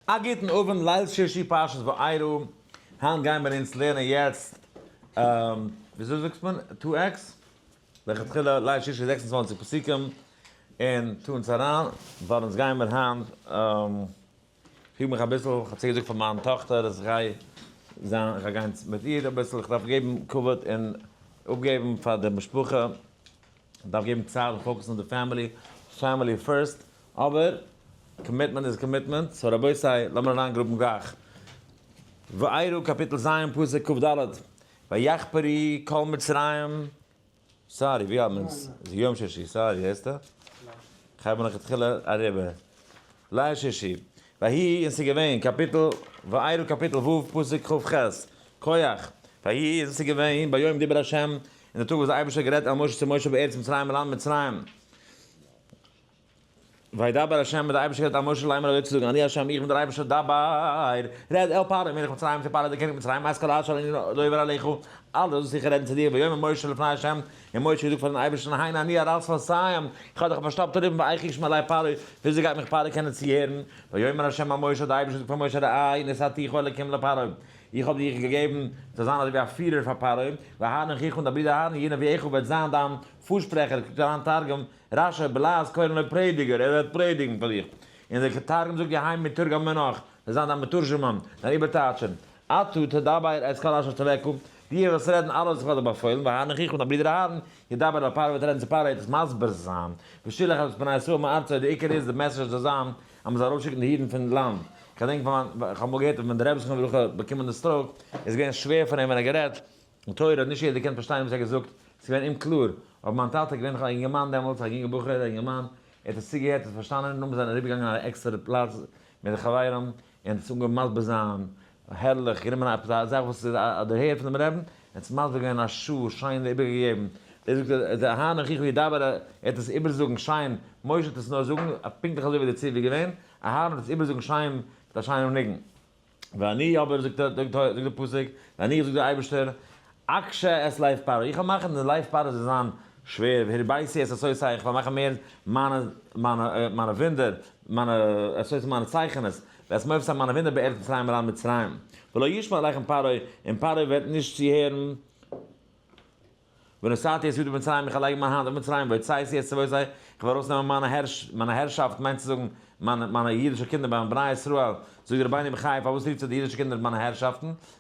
א גוטן אווענט, ליל שישי פרשת וארא, היינט גייען מיר אונז לערנען יעצט, וויאזוי זאגט מען, טו עקס? לכתחילה ליל שישי זעקס און צוואַנציק פסוקים, און טו אונז אריין, ווייל אונז גייען מיר היינט, כ'פיל מיך אביסל, כ'האב צו געזאגט פאר מיין טאכטער אז כ'גיי זיין, כ'גיי גיין מיט איר אביסל, כ'דארף געבן כבוד און אפגעבן פאר די משפחה, מ'דארף געבן צייט און פאוקוס און די פעמילי, פעמילי פירסט, אבער קאמיטמענט איז קאמיטמענט, סאו רבותי לאמיר אריינגראבן גלייך. וירא קאפיטל ז' פסוק כ ד, ויך פרעה כל מצרים, סארי ווי האט מען עס? יום ששי סארי הייסט א? כ'הייב לכתחילה אריבער. ליל שישי ויהי און ס'איז געווען, קאפיטל וירא קאפיטל ו' פסוק כב ח, כח, ויהי און ס'איז געווען, ביום דיבר ה', אין די טאג וואס דער אייבערשטער האט גערעדט אל משה צו משה בארץ מצרים אין לאנד מצרים, וידבר ה' האט דער אייבערשטער גערעדט אל משה לאמר אזוי צו זאגן אני ה' איך בין דער אייבערשטער דבר, רעד אל פרעה מלך מצרים צו פרעה דער קעניג מצרים אז כל אשר אני דובר אליך, אלעס וואס איך וועל רעדן צו דיר ויאמר משה לפני ה', און משה האט געזאגט פאר דעם אייבערשטן, הנה אני ארז פאר סיון, איך האב דיך א פארשטאפטער ריבן ואיך איש מעלי פרעה, וויאזוי גייט מיך פרעה קענען צוהערן? ויאמר ה' אל משה, האט דער אייבערשטער געזאגט פאר משה, ראי' נשאתיך אלקים לפרעה, איך האב דיך געגעבן צו זיין אזוי ווי א פירער פאר פרעה, ואהרן אחיך און דיין ברודער אהרן יהיה נביאך וועט זיין דיין פארשפרעכער, כתוב אין תרגום רש י בלעז קורן לו פרעדיגער, ער וועט פרעדיגן פאר דיך, און דער תרגום זאגט יהי' מתורגמנך, וועט זיין דיין מתורגמן, דיין איבערטייטשער, אתה תדבר את כל אשר תבעכו, דיע וואס רעדן אלעס וואס איך האב דיר באפוילן, והא אנכי איך און א ברודער אהרן, ידבר אל פרעה וועט רעדן צו פרעה וועט עס מסביר זיין, ושילח את בני ישראל מארצו, די עיקר איז די מעסעזש זאל זיין אז מען זאל ארויסשיקן די אידן פון לאנד, איך געדענק פון מיין, איך האב אמאל געהערט אז ווען דער רבי זכרונו לברכה האט באקומען די סטראוק, איז געווען שווער פאר אים ווען ער האט גערעדט תורה, נישט יעדער האט געקענט פארשטיין וואס ער האט געזאגט, עס איז געווען אומקלאר, אבער מיין טאטע, געווען נאך א אינגערמאן דעמאלטס, א יונגע בחור, א יונגערמאן, ער האט עס צוגעהערט, ער האט פארשטאנען, נאכדעם זענען אריבערגעגאנגען א עקסטערע פלאץ מיט די חברים, ער האט עס אנגעהויבן מסביר זיין הערליך, גענומען א זאך וואס איז א דערהער פונעם רעבן, און עס מסביר געווען א שעה שיין און איבערגעגעבן, ער זאגט אז זה הא נחיך הוא ידבר, ער האט עס איבערזאגן שיין, משה האט עס נאר זאגן, פונקטליך אזוי ווי די ציווי איז געווען, אהרן האט עס איבערזאגן שיין מיט א שיינעם ניגון. ואני אבער זאגט דער פסוק, ואני זאגט דער אייבערשטער, אקשה את לב פרעה, איך וועל מאכן די לב פרעה זאל זיין שווער, והרביתי את עשותי, איך וועל מאכן מער מיינע וואונדער, מיינע עשותי מיינע צייכענעס, וועסט מופיע זיין מיינע וואונדער בארץ מצרים אין לאנד מצרים, ולא ישמע אליכם פרעה, און פרעה וועט נישט צוהערן, ונשאתי את ידי במצרים, איך וועל לייגן מיין האנט אויף מצרים, והוצאתי את צבאותי, איך וועל ארויסנעמען מיינע הערשאפט, מיינט צו זאגן, מיינע אידישע קינדער, בני ישראל, זאגט דער רבינו בחיי, פארוואס רופט איר די אידישע קינדער מיינע הערשאפטן,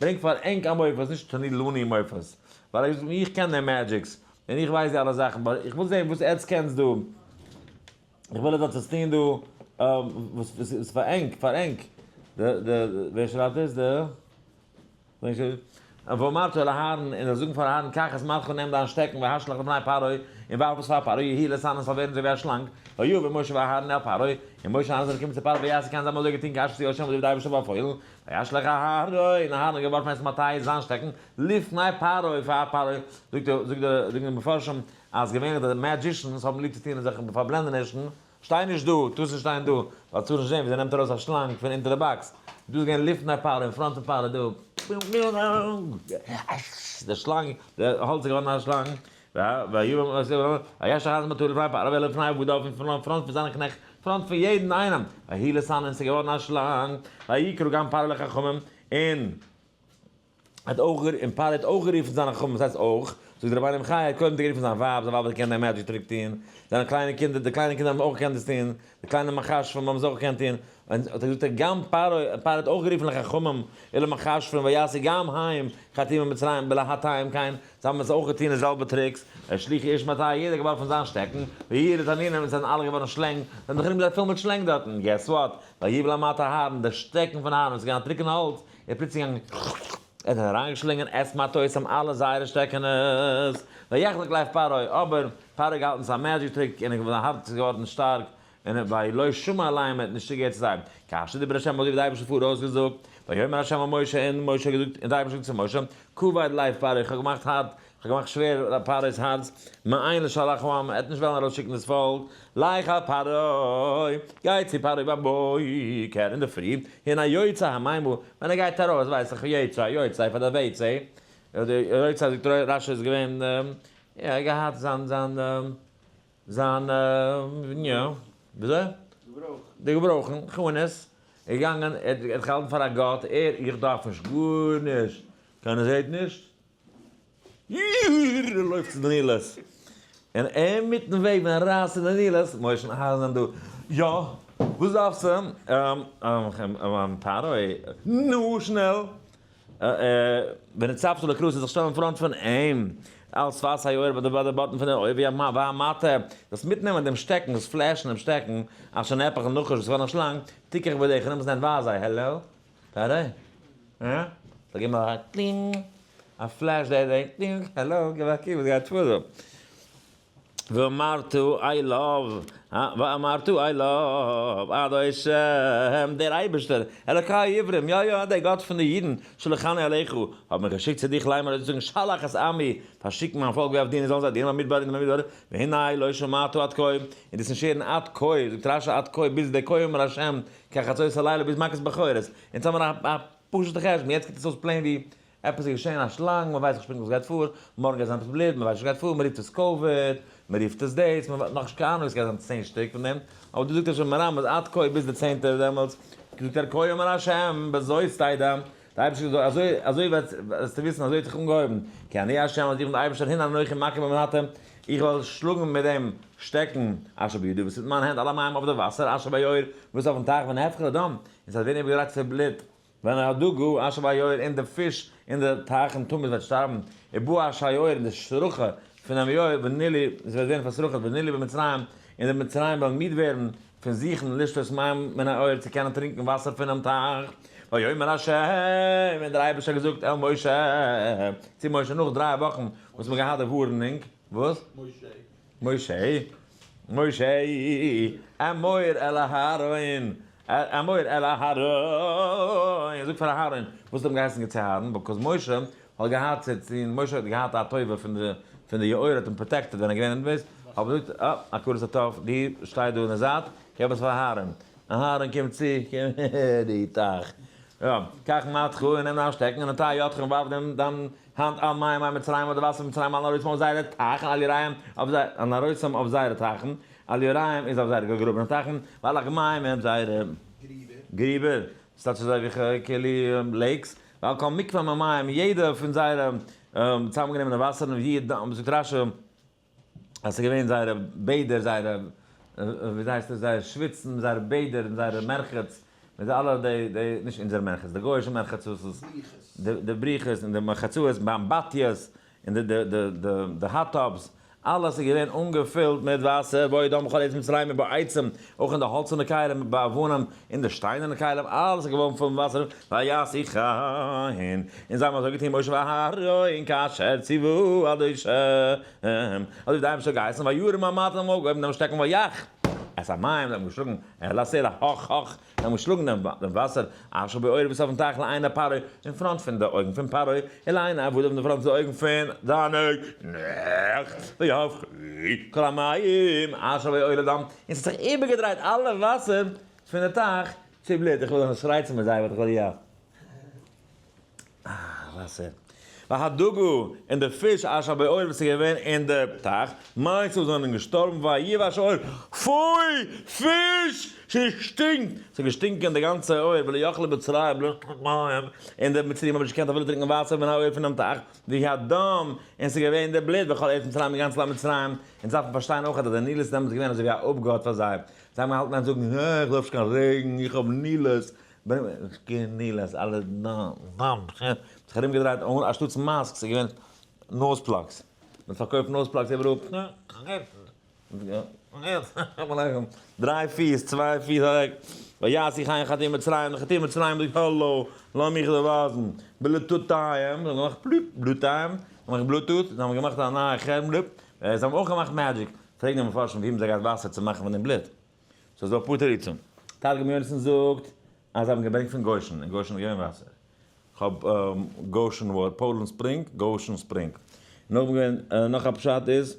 ברענג פאר ענק א מופת, נישט תני לנו מופת, ווייל איך זאג איך קען די מעדזשיקס, און איך ווייס די אלע זאכן, באט איך וויל זעהן וואס עטץ קענטס דא, איך וויל אז עטץ זאלטס טוהן דא וואס וואס איז פאר ענק, פאר ענק, די די ווער שרייבט עס די און ואמרת אל אהרן און זיי זאגן פאר אהרן קח את מלכך נעם דיין שטעקן והשלך לפני פרעה און ווארף עס פאר פרעה יהי לסנן ס'זאל ווערן אזוי ווי א שלאנג ויבא משה ואהרן אל פרעה און משה און אהרן זענען געקומען צו פרעה ויעש קיין זיי האבן אזוי געטוהן כאשר ציווה ה' און ווי די אייבערשטער האט באפוילן וישלח אהרן און אהרן האט געווארפן את מטה זיין שטעקן לפני פרעה פאר פרעה, זאגט די זאגט די זאגן די מפרשים אז געווענליך די מעדזשישענס האבן ליב צו טון זיך פארבלענדן ערשטן, שטיי נישט דא, טוס נישט שטיין דא, ווייל צו נישט זען ווי זיי נעמט ארויס א שלאנג פון אונטער די באקס, דאס גיין לפני פרעה אין פראנט פון פרעה דא, די שלאנג, די האלץ איז געווארן א שלאנג, ויאמר אל ישראל ויאמר היה שחר אז מטה לפני פרעה ולפני עבדיו אין פראנט פון זיינע קנעכט פראנט פון יעדן איינעם ויהי לסנן און ס'איז געווארן א שלאנג ויקרא גם פרעה לחכמים און האט אויך און פרעה האט אויך גערופן זיינע חכמים וואס הייסט אויך זאגט דער רבי נחי ער האט קודם גערופן זיין ווייב זיין ווייב האט געקענט דעם מעדזשיק טריק טון זיינע קליינע קינדער די קליינע קינדער האבן אויך געקענט דאס טון די קליינע מכשפים האבן זיך אויך געקענט טון, און האט ער געזאגט אז גם פרעה פרעה האט אויך גערופן לחכמים אלא מכשפים ויעשה גם הים חטים ומצרים בלהטיהם קיין זיי האבן עס אויך געטון די זעלבע טריקס, און שליחי איש מתי יעדער האט געווארפן זיין שטעקן, ויהי לתנינא און זענען אלע געווארן שלענג, זיי האבן זיך ארום געלייגט פול מיט שלענג דארטן, געס וואט, ויבלע מטה אהרן, די שטעקן פון אהרן וואס איז געווען א טרוקענע האלץ, איז פלוצלינג געגאנגען. ער האט זיי אריינגעשלינגען, עס מאכט אויס האבן אלע זייערע שטעקענעס, ויחלק לב פרעה, אבער פרעה האט געהאלטן ס'איז א מעדזשיק טריק, און זיין הארץ איז געווארן שטארק, און ויהי לא שמע להם ער האט נישט צוגעהערט צו זיי, כאשר דיבר השם אזוי ווי דער אייבערשטער האט פאראויס געזאגט, ויאמר השם אל משה און משה האט געזאגט, און דער אייבערשטער האט געזאגט צו משה, כבד לב פרעה, איך האב געמאכט הארט כ'האב געמאכט שווער ר' פרעה'ס הארץ, מאין לשלח העם, ער וועט נישט וועלן ארויס שיקן דאס פאלק, לך אל פרעה, גיי צו פרעה בבוקר, אינדערפרי, הנה יוצא המים, ווען ער גייט ארויס ווייס איך, יצא, יוצא, פאר די וועי צי, יוצא זאגט רשי איז געווען, יא, ער האט געהאט זיין זיין זיין, יא, וויאזוי? געברויכן. די געברויכן, כונות, ער איז געגאנגען, ער האט זיך געהאלטן פאר א גאט, ער, איך דארף נישט גארנישט, קיינער זעהט נישט, יאיר לויפט צו דניאל'ס, און אינמיטן וועג ווען ער רייזט צו דניאל'ס, משה און אהרן זענען דא, יא, וואס דארפסטו? אהרן, פרעה, נו, שנעל! ונצפתו לקרוא, ס'זאל זיך שטעלן אין פראנט פון אים, על שפת היאור, ביי די באטן פון די אויבער, והמטה, זאלסט מיטנעמען דעם שטעקן, דאס פלעשן דעם שטעקן, אשר נהפך לנחש וואס איז געווארן א שלאנג, תיקח בידיך, נעם עס אין דיין ווייזיי, העלא? פארע ר זאל געבן א קלינג, א פלעש דער דער קלינג, העלא געווער קינג וואס גייט פאר דא? ואמרתו איי לאו א ואמרתו איי לאו עד השם דער אייבערשטער אלקי עברים יא יא דער גאט פון די אידן שלחני אליך האט מיך געשיקט צו דיך ליימער אזוי צו זאגן שלח את עמי פארשיק מיין פאלק ווער אויף דיר זאלן זיי דיעלן במדבר אין די מדבר והנה לא שמעתו עד כה און דאס נישט הערן עד כה זאגט רשי עד כה ביז דער כה יאמר השם כחצות הלילה ביז מכות בכורות, און יעצט האבן מיר א פשוט'ע חשבון, יעצט קוקט עס אויס פלעין ווי עפעס איז געשען א שלאנג, מ'ווייסט נישט פונקט וואס גייט פאר, מארגן גייט זיין עפעס בלוט, מ'ווייסט נישט וואס גייט פאר, מ'רופט עס קאוויד, מ'רופט עס דאס, מ'האט נאכנישט קיין אנונג, עס קען זיין צען שטיק פון דעם, אבער דא זאגט ער שוין מרמז עד כה ביז די צענטע דעמאלטס, זאגט ער כה יאמר ה' בעזותיי דאם, דער אייבערשטער האט געזאגט, אזוי אזוי וועסטו וויסן, אזוי האט זיך אנגעהויבן, כי אני ה' וועל זוכן דעם אייבערשטען הנה אנכי מכה במטה, איך וועל שלאגן מיט דעם שטעקן אשר בידי וואס איז אין מיין הענט, אלע מים אויף די וואסער אשר ביאור וואס איז אויפן טייך ונהפכו לדם, און עס וועט ווערן איבערגעגרייט צו בלוט, והדגו אשר ביאור און די פיש אין די טייכן טמא וועט שטארבן, ובא אשר היאור און די סרוכה פונעם יאור, ונלהי, און עס וועט ווערן פארסרוכעט, ונלהי במצרים, און די מצריים וועלן מיד ווערן, פון זוכן לשתות מים מן האור צו קענען טרינקען וואסער פונעם טייך, ויאמר ה' און דער אייבערשטער האט געזאגט אל משה צו משה נאך דריי וואכן וואס מען האט געהאט די ווארענונג, וואס? משה משה אמור אל אהרן אמור אל אהרן זאג פאר אהרן וואס האט אים געהייסן געטארן, בקאז משה האט געהאט צו טוהן, משה האט געהאט א טובה פון די פון די יאורות און פראטעקטעד ווען ער איז געווען אין דמות, האט מען געזאגט אה הכרת הטוב די שטיי דא אין די זייט איך האב עס פאר אהרן, אהרן קום צו קום אההה די תח יא קח מתך און נעם דיין שטעקן און אתה ידך און ווארף דעם דיין האנט על מים מים מצרים אויף די וואסער פון מצרים אל נארותם אויף זייערע טייכן אל יריים אויף זיי אל נארותם אויף זייערע טייכן אל יריים איז אויף זייערע געגראבענע טייכן ווייל איך מיין מיט זייערע גריבער ס'טייטש אזוי ווי כלי לעיקס ועל כל מקווה ממים יעדע פון זייערע צוזאמגענומענע וואסערן ווי די האבן געזאגט רשי אז ס'איז געווען זייערע בעדער זייערע ווי הייסט עס זייער שוויצן זייערע בעדער און זייערע מרחץ מיט די אלע די די נישט אונזערע מרחץ די גוי'אישע מרחצות די בריכות און די מחצאות באמבטיעס און די די די די די האט טאבס, אלעס איז געווען אנגעפילט מיט וואסער, ועוד דם כל עת מצרים ובעצם אויך אין די האלצערנע כלים באבנים, אין די שטיינערנע כלים, אלעס איז געווארן פול מיט וואסער, ויעשו כן, און זיי האבן אזוי געטון משה ואהרן כאשר ציוו עד השם, אזוי ווי דער אייבערשטער האט געהייסן, וירום המטה און מ'האט אויפגעהויבן דעם שטעקן ויח' את המים, זיי האבן געשלאגן, ער לעשה לה הח הח, ער מוז שלאגן דעם וואסער אשר בעורו וואס איז אויפן טייך לעין הפרעה, אין פראנט פון די אויגן פון פרעה, און לעין העבוד אויף די פראנט פון די אויגן פון זיינע קנעכט, ויהפכו כל המים אשר בעורו לדם, און ס'האט זיך איבערגעדרייט אלע וואסער פון די טייך צו בלוט. איך וויל זיך נישט רייצן מיט זיי, באט איך וויל יא. והדגו און די פיש אש הבעור וואס איז געווען אין די טייך מים סוף זענען געשטארבן ויבש האור, פוי! פיש! ס'שטינקט! ס'האט געשטינקען די גאנצע האור ולא יכלו מצרים לשתות מים, און די מצרים האבן נישט געקענט אפילו טרינקען וואסער פון האור פונעם טייך, והי' הדם און ס'איז געווען די בלוט בכל ארץ מצרים אין גאנץ לאנד מצרים, אונז דארפן פארשטיין אויך אז די נילוס איז דעמאלטס געווען אזוי ווי א אפגאט פאר זיי, זיי האבן געהאלטן אז זיי זאגן, אה איך לויף נישט קיין רעגן, איך האב נילוס, במשך כנראה אז אלע נאנט האבן זיך ארומגעדרייט אן א שטאטס מאסק ס'איז געווען נאז פלאגס מ'האט פארקויפט נאז פלאגס איבעראל דריי פיס צוויי פיס אוועק ויעש איש חיים חטים מצרים די חטים מצרים זאגט האלא לאמיך דיר ווייזן בלוטוט טיים זיי האבן געמאכט פלופ בלוט טיים זיי מאכן בלוטוט זיי האבן געמאכט א נייע חרם בלופ זיי האבן אויך געמאכט מעדזשיק פרעג די מפרשים ווי האבן זיי געהאט וואסער צו מאכן פון דעם בלוט סאיז דא אפאר תירוצים. תרגום יונתן זאגט אז זיי האבן געברענגט פון גושן, און גושן איז געווען וואסער. כהאב גושן וואטער, פאולען ספרינג, גושן ספרינג. נאך א פשט איז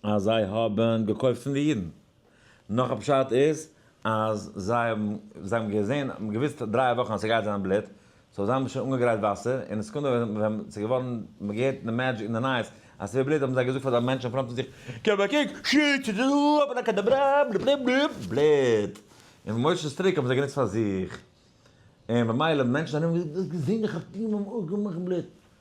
אז זיי האבן געקויפט פון די אידן. נאך א פשט איז אז זיי האבן געזעהן, געוויסט דרײַ וואכן אז סגייט זיין בלוט, סאו זיי האבן שוין אנגעגרייט וואסער, און א סעקונדע ווען ווען ס'איז געווארן מ'געהערט די מעדזשיק און די נייעס אז ס'ווערט בלוט האבן זיי געזאגט פאר די מענטשן פראנט פון זיך קעבע קעיק שיט איט אלל אבראקאדאברא בלעבלעבלעבלעב בלוט און מוישע'ס טריק האבן זיי גענוצט פאר זיך און במילא די מענטשן ארום געזאגט דו האסט געזען די חתנים האבן אויך געמאכט בלוט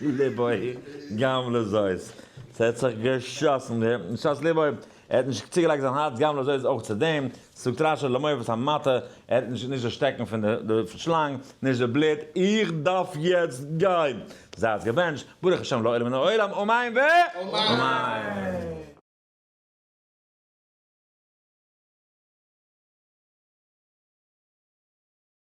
ליבוי, גם לזאת. ס'האט זיך געשאסן די שעת ליבוי, ער האט נישט צוגעלייגט זיין הארץ גם לזאת אויך צו דעם, זאגט רשי למוות המתה, ער האט נישט נישט די שטעקן פון די שלאנג, נישט די בלוט, איך דארף יעצט גיין! זייטס געבענטשט, ברוך השם לעולם מן העולם, אמן ואמן!